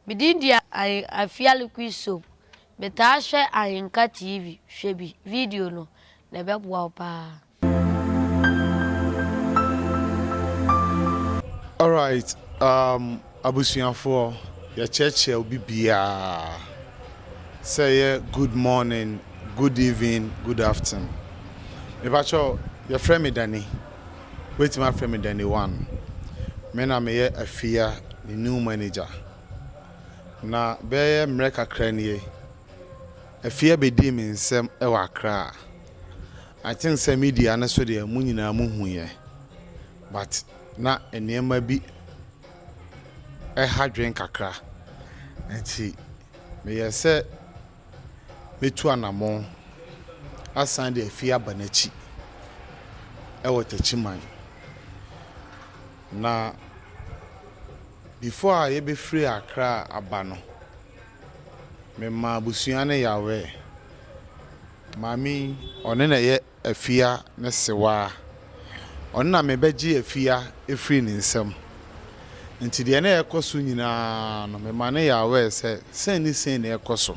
Me din de Ahen Afiali Quisob. Me taa hwɛ Ahenka TV, hwɛ bi, video no, na ɛbɛboa wo paa. Alright um abusuafoɔ yɛkyerɛkyerɛ obi biaa sɛ ɛyɛ good morning, good evening, good afternoon. Mepakyɛw yɛfrɛ me Danny. Wobɛtumi afrɛ me Danny One. Me na meyɛ Afia ne new manager. Na bɛyɛ mmerɛ kakra nie, Afia bɛdii me nsam wɔ Accra. I think sɛ media no so deɛ mo nyinaa mohuiɛ but na nneɛma bi ha dwene kakra nti meyɛɛ sɛ. mɛtu anammɔn asan de afie aba n'akyi wɔ Takyiman. Na before a yɛbɛfiri Accra aba no, memaa abusua no yawɛɛ. Maame yi, ɔno na ɛyɛ afia ne sewaa. Ɔno na mebɛgye afia afiri ne nsam. Nti deɛ na ɛrekɔ so nyinaa no, mema no yɛ aware sɛ sei ne sei na ɛrekɔ so.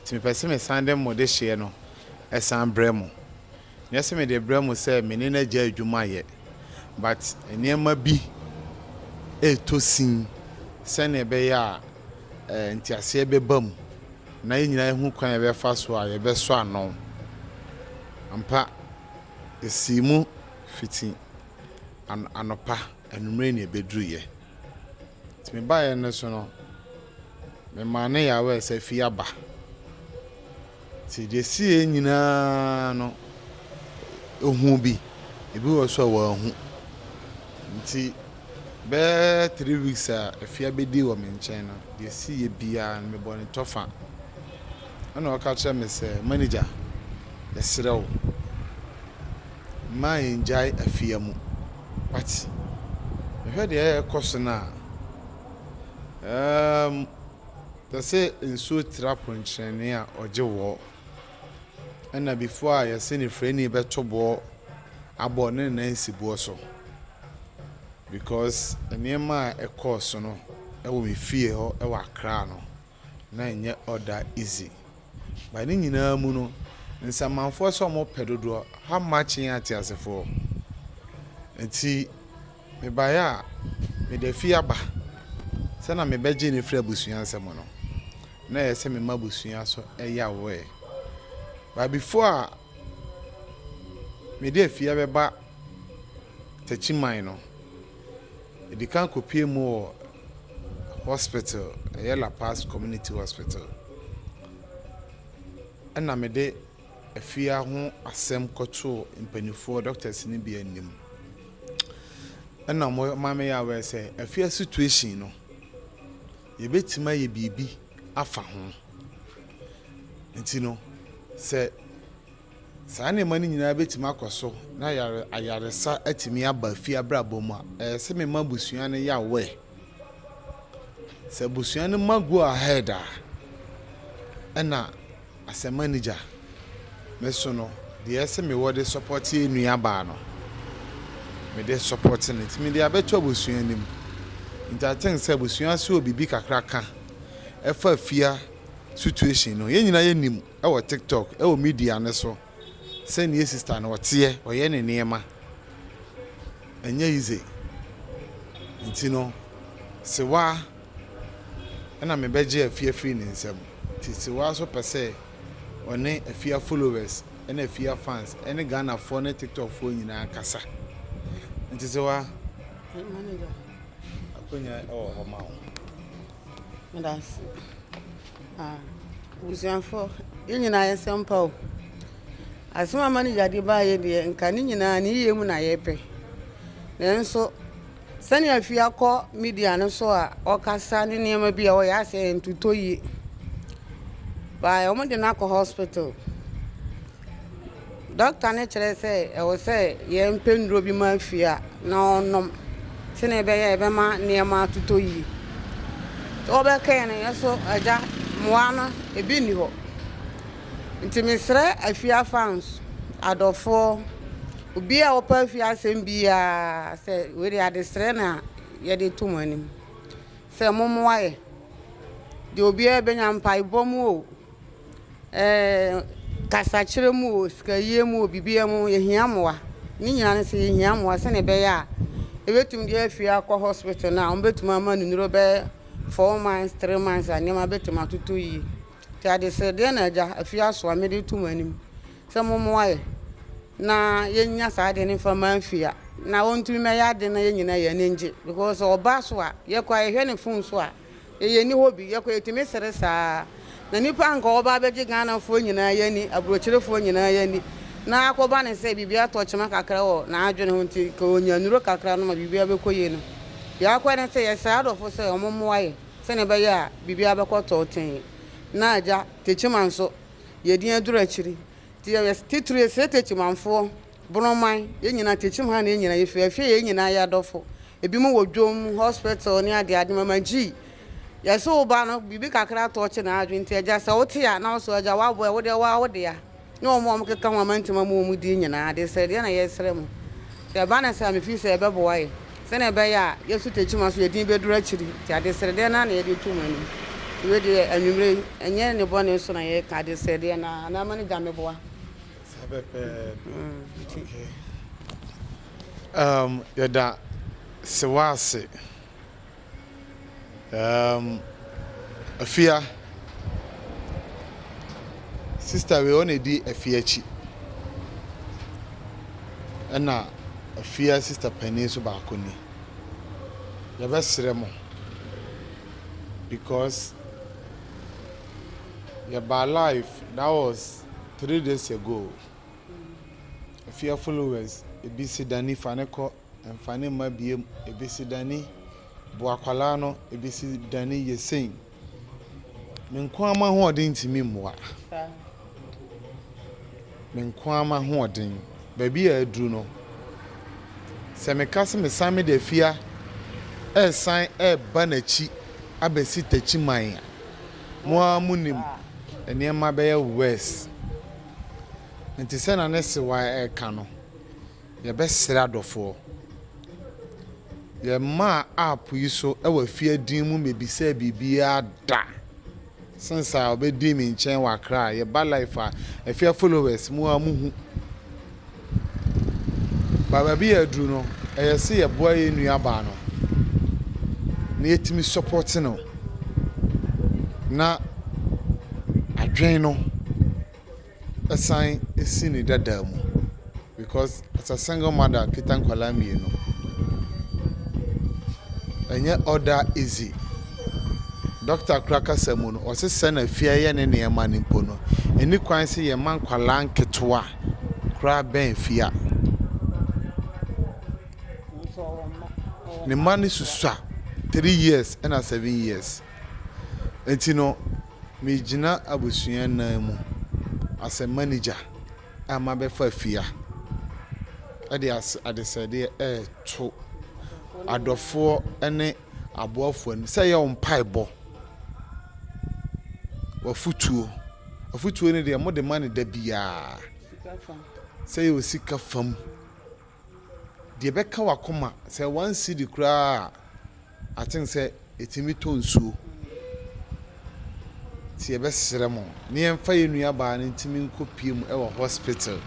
Nti mepɛ sɛ mesan de mo dehyeɛ no san brɛ mo. Nyɛ sɛ mede rebrɛ mo sɛ me ne no agya adwuma yɛ, but nneɛma bi retɔ sin sɛdeɛ ɛbɛyɛ a nteaseɛ bɛba mu. na yɛn nyinaa ahu kwan a yɛbɛfa so a yɛbɛsɔ ano. Ampa, esii mu fiti anɔpa, anwummere na ebeduruiɛ. Nti me baeɛ no so no, memaa ne yawɛɛ sɛ fie aba. Nti deɛ ɛsiiɛ nyinaa no, ɔhuu bi, ebi wɔ so a wanhu. Nti. Bɛyɛ three weeks a efi abedi wɔ me nkyɛn no, deɛ ɛsiiɛ biara no, mebɔ no tɔfa. Ɛna ɔka kyerɛ me sɛ, Manager, yɛsrɛ wo, mma yɛngyae afia mu. But mehwɛ deɛ ɛrekɔ so no a, ɛɛm, te sɛ nsuo tra ponkyerɛnee a ɔgye wɔ. Ɛna before a yɛse ne frɛni bɛto boɔ abɔ ne nan si boɔ so because nneɛma a ɛkɔɔ so no ɛwɔ me fie hɔ ɛwɔ Accra no na ɛnyɛ all that easy but ne nyinaa mu no nsamanfoɔ sɛ wɔpɛ dodoɔ how much yɛn ateasefoɔ nti Mebaeɛ a, mede afie aba sɛ na mebɛgye no afiri abusua nsam no, na ɛyɛ sɛ mema abusua so yawee. But before a mede afie abɛba Takyiman no, mede kan kɔpue mu wɔ hospital, ɛyɛ La Paz Community Hospital, ɛna mede afia ho asɛm kɔtoo mpanimfoɔ, doctors no bi anim. Ɛna wɔn ma me yɛ aware sɛ afia situation no, yɛbɛtumi ayɛ biribi afa ho. Nti no, sɛ saa nneɛma no nyinaa bɛtumi akɔ so na yare ayaresa atumi aba afia abrabɔ mu a, ɛyɛ sɛ mema abusua no yɛ aware. Sɛ abusua no ma go ahead a, ɛna As a manager, me so no deɛ ɛse me wɔ de support yɛ nua baa no me de support no nti me de abɛto abusua no mu nti I think sɛ abusua so wɔ biribi kakra ka ɛfa fia situation no yɛn nyinaa yɛ nim ɛwɔ tiktok ɛwɔ media no so. sɛ neɛ sister no ɔteɛ ɔyɛ ne nneɛma ɛnyɛ easy nti no sewa ɛna me bɛgye afia firi ne nsam nti sewa nso pɛ sɛ ɔne afia followers ɛna afia fans ɛne Ghana foɔ ne tiktok foɔ nyinaa kasa nti sewa akonya ɛwɔ hɔ ma wo. Meda ase. Ah, abusuafoɔ, yɛn nyinaa yɛ nsɛm pa o. Asɛm a manager de baeɛ deɛ, nka ne nyinaa ne yie mu na yɛpɛ. Nanso, sɛnea afi akɔ media no so a ɔkasa ne nneɛma bi a ɔyɛ asɛ ntotɔ yie. Baa wɔde no akɔ hospital. Dɔkta no kyerɛ sɛ ɛwɔ sɛ yɛpɛ nnuro bi ma fie a na ɔnom sɛdeɛ ɛbɛyɛ a ɛbɛma nneɛma atotɔ yie. Sɛ wobɛka yɛn no yɛn nso agya mmoa ano ebi nni hɔ. Nti mesrɛ afie afa nso, adɔfoɔ, obiara a ɔpɛ afie asɛm biara sɛ wei deɛ adesrɛ na yɛde to mo anim sɛ mommoa yɛn. Deɛ obiara bɛnya, mpaebɔ mu o. Kasakyerɛ mu o, sikayie mu o, biribiara mu yɛhia mmoa. Ne nyinaa ne sɛ yɛhia mmoa sɛdeɛ ɛbɛyɛ a yɛbɛtumi de afi ha akɔ hospital no a wɔbɛtumi ama no nnuro bɛyɛ four months, three months a nneɛma bɛtumi atotɔ yie. Nti adesrɛdeɛ na agya Afiaso a mede reto mo anim sɛ mommoa yɛn na yɛnya saa adeɛ no mfa mma Afia na ɔntumi mmɛyɛ adeɛ na yɛn nyinaa yɛn ani ngye because ɔba so a, yɛkɔ a yɛhwɛ ne phone so a Yɛyɛ nni hɔ bi, yɛkɔ yɛtumi sere saa. Na nnipa anka wɔba abɛgye Ghanafoɔ nyinaa yɛ ani, aburokyerefoɔ nyinaa yɛ ani. Na akɔba no sɛ biribi atɔ kyema kakra wɔ n'adwene ho nti, nka ɔnya nnuro kakra nom a biribiara bɛkɔ yie no. Deɛ akɔ ne sɛ yɛsrɛ adɔfo sɛ wɔn mmoa yɛ sɛdeɛ ɛbɛyɛ a biribiara bɛkɔ tɔɔtee. Na agya, Techiman nso, yɛdin aduru akyiri nti yɛyɛ titire srɛ Techimanfoɔ Borɔman, yɛn nyinaa tekyem ha na yɛn nyinaa yɛfiri. Afie yɛn nyinaa yɛ adɔfo. Ebinom wɔ dwom, hospital ne adeade. Mama Gyii, yɛse wo ba no, biribi kakra tɔɔkye n'adwene nti agya sɛ wote a na wo so agya w'aboa ɛ, wodeɛ woa wo dea ne wɔn a wɔkeka ho a mantim ama wɔn din nyinaa ade sɛ deɛ na yɛresrɛ mo sɛ ɛba no saa a mefiri sɛ ɛbɛboa yɛn sɛdeɛ ɛbɛyɛ a yɛsu Tekyima so yɛn din bɛduru akyiri nti adesrɛ deɛ no ara na yɛde to mo anim. Nti wei deɛ anwummerɛ yi ɛnyɛ ne bɔne so na yɛreka adesrɛ deɛ no ara na ama no gya mmɛboa. Saa pɛpɛɛpɛ, okay. Um, yɛda sewa ase. Um, afia. Sister wei ɔna edi afia akyi. Ɛna afia sister panin so baako ni. Yɛbɛsrɛ mo. Because yɛba life, that was Three days ago, ɛfi affluence ebi si dani fa no kɔ ɛnfa no mma biom ebi si dani boa akwadaa no ebi si dani yɛ sei. Me nko ara m'ahoɔden ntumi mmoa. Me nko ara m'ahoɔden baabi a aduru no sɛ meka sɛ mesan mede afia ɛresan ɛreba n'akyi abɛsi takyi man a Mo ara munim, nneɛma bɛyɛ worse. Enti sɛnea ne sewa reka no, yɛbɛsrɛ adɔfoɔ. Yɛmmaa app yi so wɔ afie din mu mmebisaa biribiara da since a ɔbɛdii me nkyɛn wɔ Accra. Yɛba life a, afie followers mo ara muhu. Ba baabi yɛ aduru no, ɛyɛ sɛ yɛboa yɛn nuabaa no na yɛtumi sɔpɔte no na adwene no san si ne dada mu because as a single mother kita nkwadaa mmienu, ɛnyɛ all that easy. Dɔkta koraa kasa mu no, ɔse sɛ na fie ayɛ ne nneɛma no mpo no, ɛnni kwan sɛ yɛma nkwadaa nketewa. koraa bɛn fie a, ne mma no susua three years ɛna seven years. Nti no megyina abusua nan mu as a manager a mabɛfa fie a ɛde adesrɛdeɛ ɛreto adɔfoɔ ɛne aboafoɔ anim sɛ ɛyɛ wɔn mpaebɔ, w'afutuo. Afotuo no deɛ mode ma no da biara. Sika fam. Sɛ yɛ wɔ sika fam. Deɛ ɛbɛka w'akoma sɛ one cedi koraa a I think sɛ ɛtumi tɔ nsuo. Nti yɛbɛsrɛ mo ne yɛmfa yɛn nuabaa no ntumi nkɔpie mu wɔ hospital.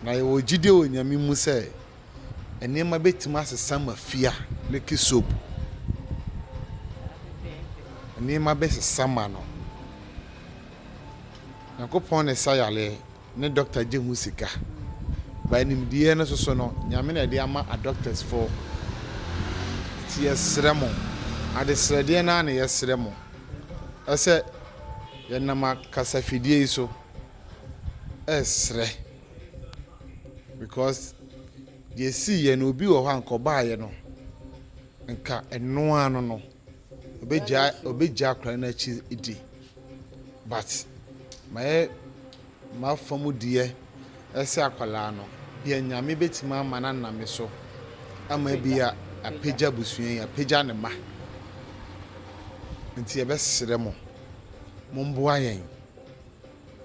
Na yɛwɔ gyidie wɔ Nyame mu sɛ nneɛma bɛtumi asesa ma fie a, leke soap, nneɛma bɛsesa ma no. Nyankopɔn na ɛsa yareɛ, ne dɔkta gye ho sika. By nimdeɛ no soso no, Nyame na ɛde ama a doctors fo. Nti yɛsrɛ mo, adesrɛdeɛ no ara na yɛsrɛ mo, ɛsɛ yɛnam akasafidie yi so ɛsrɛ. because deɛ ɛsiiɛ no obi wɔ hɔ a nka ɔbaeɛ no nka ɛno ara no no ɔbɛgya ɔbɛgya akwadaa no akyi di but mayɛ mafa mu deɛ ɛsɛ akwadaa no deɛ nyame bɛtumi ama no aname so ama bi a apagya abusua yi apagya ne ma nti yɛbɛsrɛ mo momboa yɛn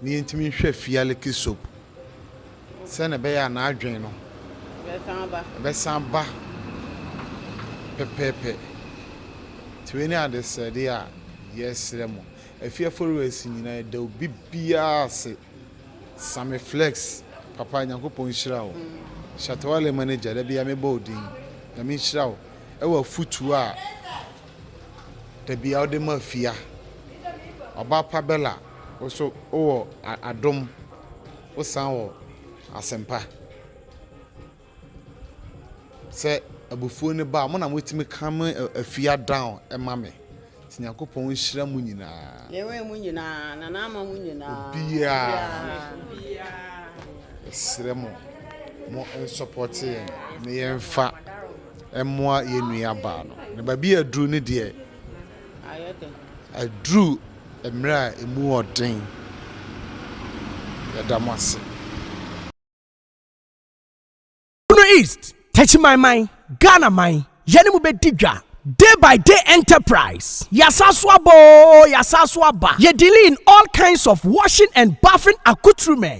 na yentumi nhwɛ Fialeke soap sɛnea ɛbɛyɛ a n'adwene no bɛsan aba pɛpɛɛpɛ. Nti wei ne adesrɛde a yɛresrɛ mo, Afie Aforiwasi nyinaa, yɛda obi biara ase. Sammy Flex, papa, Nyankopɔn nhyira wo. Shatta Wale manager, da biara mebɔ wo din. Nyame nhyira wo wɔ afutuo a. dabi a ɔde ma fia. Ɔbaa pa Bella wo nso wowɔ adom wo san wɔ asempa. Sɛ abufuo no ba a mo na motumi calm afia down ma me. Nti Nyankopɔn nhyira mo nyinaa. Ne wɛn mu nyinaa na n'ama mu nyinaa. Obiara. Ɛsrɛ mo mo nsɔpɔte yɛn ne yɛn fa. Ɛmmoa yɛn nua baa no. Na baabi a aduru no deɛ, aduru mmerɛ a ɛmu ɔden. Yɛda mo ase. Bono East, Techimanman, Ghana man, yɛne mo bɛdi dwa. Day by day enterprise, yɛasan so aba oo, yɛasan so aba. Yɛdeliin all kinds of washing and bathing accoutrements.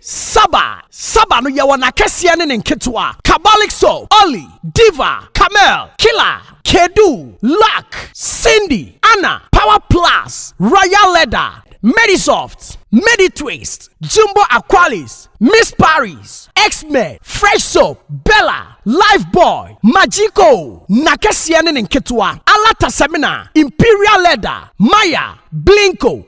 Saba, Saba no yɛwɔ n'akɛseɛ ne ne nketewa, Kabalixo, Olly, Diva, Camel, Killa, Kedu, Luck, Cindy, Anna, Power Plus, Royal Leather, Medisoft, Meditwist, Jumbo Aqualis, Miss Paris, X-Men, Fresh Soap, Bella, Life Boy, Magico, n'akɛseɛ ne ne nketewa, Alata Semina, Imperial Leather, Maya, Blinko,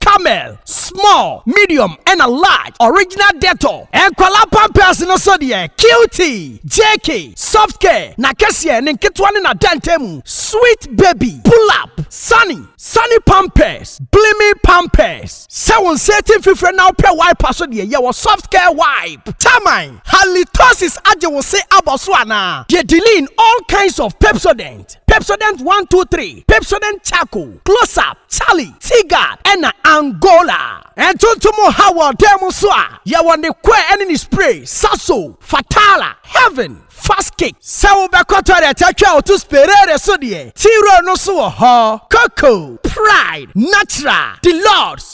Camel, small, medium ɛna large, original Dettol. Nkwadaa pampers no so deɛ, Cutie, JK, Soft Care, n'akɛseɛ, ne nketewa ne n'adantamu, Sweet Baby, Pull Up, Sunny, Sunny Pampers, Blimi Pampers. Sɛ wo nsa ati mfifire na wopɛ wipe a so deɛ, yɛwɔ Soft Care Wipe. Taman, Halitosis agye wo se abɔ so anaa? Deɛ Diline, all kinds of Pepsodent. Pepsodent, Pepsodent one two three, Pepsodent Charcoal, Close-Up, Charlie, Teaguard, ɛna Angola. Ntontom nhaw wɔ ɔdan mu nso a, yɛwɔ ne kɔɛ ɛne ne spray, Sasso, Fatala, Heaven, Fast Kick. Sɛ wobɛkɔ toilet atwa wo to Sperare so deɛ, T-Roll no nso wɔ hɔ. Coco, Pride, Natural, Deluxe,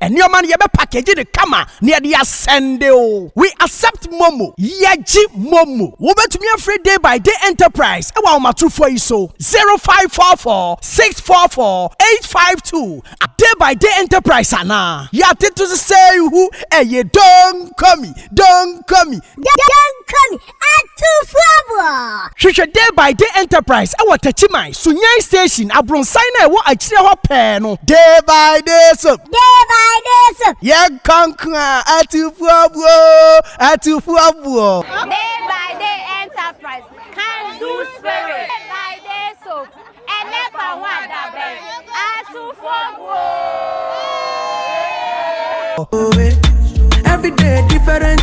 Nneɛma no yɛbɛ package no kama na yɛde asɛnde o. We accept momo. Yɛgye momo. Wobɛtumi afrɛ Day by Day Enterprise ɛwɔ ahomatorofoɔ yi so, 0544 644 852 a Day by Day Enterprise anaa. Yɛatete so sɛ ihu ɛye Donkomi, Donkomi. Donkomi, Atufoɔ! Hwehwɛ Day by Day Enterprise wɔ Takyiman, Sunyani Station, abronsan no a ɛwɔ akyire hɔ pɛɛ no. Day by Day Soap. Day by Day Soap. Yɛnkɔ nko a, Atufoɔbuo! Atufoɔbuo! Day by Day Enterprise, Can Do Spirit. Day by Day Soap, Ɛnɛ fa ho adabɛn, Atufoɔbuo! Every day different.